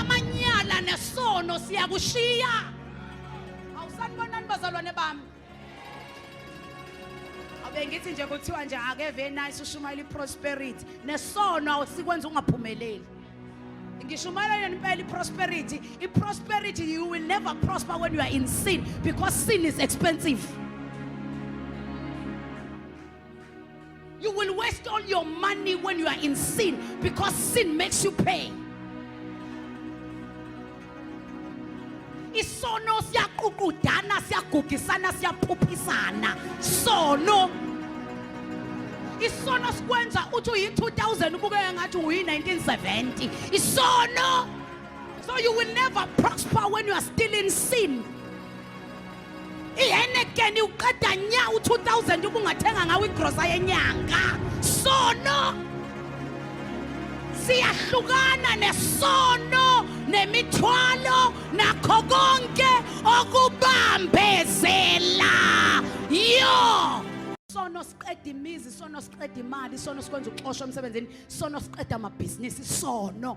amanyala nesono siyakushiya awusanibonani bazalwane bami bengithi nje kuthiwa nje ake very nice ushumayela iprosperity nesono awusikwenza ungaphumeleli ngishumayela yena impela iprosperity iprosperity you will never prosper when you are in sin because sin is expensive You will waste all your money when you are in sin because sin makes you pay. isono siyaququdana siyagugisana siyaphuphisana sono isono sikwenza uthi uyi-2000 ubukeke ngathi uyi-1970 isono so you will never prosper when you are still in sin ihenekeni uqeda nya u-2000 ubungathenga ngawo igrosa yenyanga sono siyahlukana nesono nemithwalo nakho konke okubambezela yo sono siqeda imizi sono siqeda imali sono sikwenza uxosha emsebenzini sono siqeda amabhizinisi sono